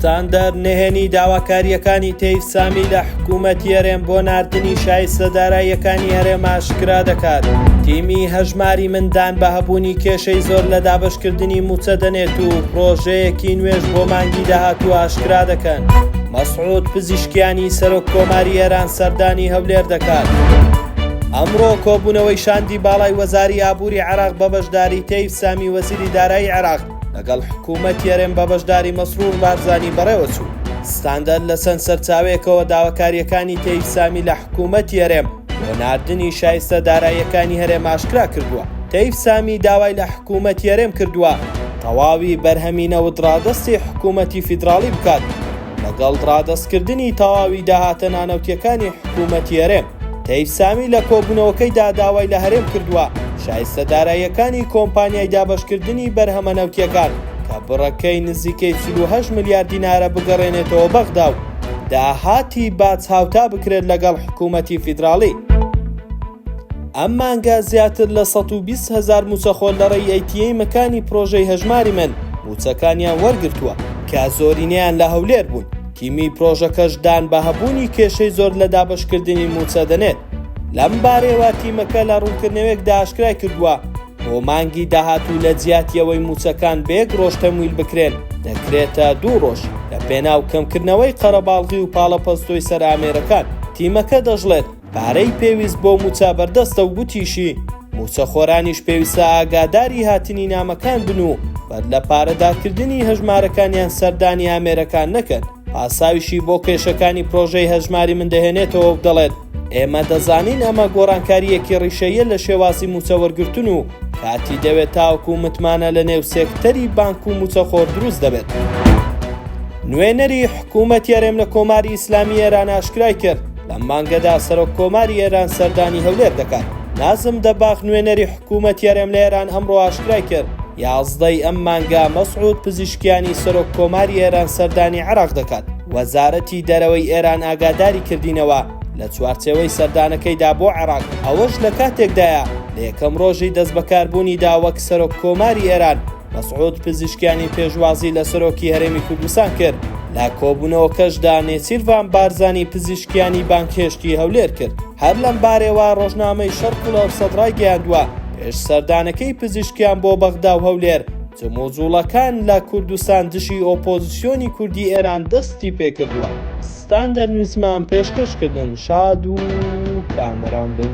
ستاندەر نهێنی داواکارییەکانی تەیف سامی لە حکوومەتی هەرێم بۆ ناردنی شایستە داراییەکانی هەرێم ئاشکرا دەکات تیمی هەژماری مندان بە هەبوونی کێشەی زۆر لە دابشکردنی موچە دەنێت و پرۆژەیەکی نوێش بۆ مانگی داهاتوو ئاشکرا دەکەن مەسعود پزیشکیانی سەرۆک کۆماری ئێران سەردانی هەولێر دەکات. ئەمڕۆ کۆبوونەوەی شاندی باڵای وەزاری ئابووری عراق بە بەشداری تەیف سامی وەزیری دارایی عراق لەگەڵ حکوومەتی هەرێم بە بەشداری مەسرور بارزانی بەڕێوەچوو ستاندەر لە چەند سەرچاوەیەکەوە داواکاریەکانی تەیف سامی لە حکوومەتی هەرێم بۆ ناردنی شایستە داراییەکانی هەرێم ئاشکرا کردووە تەیف سامی داوای لە حکوومەتی هەرێم کردووە تەواوی بەرهەمی نەوت ڕادەستی حکوومەتی فیدراڵی بکات لەگەڵ ڕادەستکردنی تەواوی داهاتە نانەوتیەکانی حکوومەتی هەرێم تەیف سامی لە کۆبوونەوەکەیدا داوای لە هەرێم کردووە شایستە داراییەکانی کۆمپانیای دابەشکردنی بەرهەمە نەوتییەکان کە بڕەکەی نزیکەی 48 ملیار دینارە بگەڕێنێتەوە بەغدا و داهاتی باج هاوتا بکرێت لەگەڵ حکوومەتی فیدراڵی. ئەم مانگە زیاتر لە 120 هەزار موچەخۆ لە ڕێی ئەیتیەی مەکانی پرۆژەی هەژماری من موچەکانیان وەرگرتووە کە زۆرینەیان لە هەولێر بوون. تیمی پرۆژەکەش دان بە هەبوونی کێشەی زۆر لە دابەشکردنی مووچە دەنێت، لەم بارەیەوە تیمەکە لە ڕوونکردنەوەیەکدا ئاشکرای کردووە، بۆ مانگی داهاتوو لە جیاتی ئەوەی مووچەکان بە یەک ڕۆژ تەمویل بکرێن، دەکرێتە دوو ڕۆژ، لەپێناو کەمکردنەوەی قەرەباڵغی و پاڵەپەستۆی سەر ئامێرەکان. تیمەکە دەشڵێت، پارەی پێویست بۆ مووچە بەردەستە و گوتیشی، مووچەخۆرانیش پێویستە ئاگاداری هاتنی نامەکان بن و بەدلە پارەدارکردنی هەژمارەکانیان سەردانی ئامێرەکان نەکەن، پاساویشی بۆ کێشەکانی پرۆژەی هەژماری من دەهێنێتەوە و دەڵێت، ئێمە دەزانین ئەمە گۆڕانکارییەکی ڕیشەییە لە شێوازی مووچە وەرگرتن و کاتی دەوێت تاوەکو متمانە لەنێو سێکتەری بانک و مووچەخۆر دروست دەبێت. نوێنەری حکوومەتی هەرێم لە کۆماری ئیسلامیی ئێران ئاشکرای کرد، لەم مانگەدا سەرۆک کۆماری ئێران سەردانی هەولێر دەکات نازم دەباخ نوێنەری حکوومەت یارێم لە ئێران ئەمڕۆ ئاشکرای کرد یازدەی ئەم مانگا مەسعود پزیشکیانی سەرۆک کۆماری ئێران سەردانی عراق دەکات وەزارەتی دەرەوەی ئێران ئاگاداری کردینەوە لە چوارچەوەی سەردانەکەیدا بۆ عێراق ئەوەش لە کاتێکدایە لە یەکەم ڕۆژی دەست بەکاربوونیدا وەک سەرۆک کۆماری ئێران مەسعود پزیشکیانی پێشوازی لە سەرۆکی هەرێمی کوردستان کرد لە کۆبوونەوەکەشدا نێچیرڤان بارزانی پزیشکیانی بانکهێشتی هەولێر کرد هەر لەم بارەوە ڕۆژنامەی شەرقل و سەدرای گەیاندووە پێش سەردانەکەی پزیشکیان بۆ بەغدا و هەولێر جموجوڵەکان لە کوردستان دژی ئۆپۆزیسیۆنی کوردی ئێران دەستی پێکردووە ستاندەر نووسمان پێشکەشکردن شاد و کامەران بن.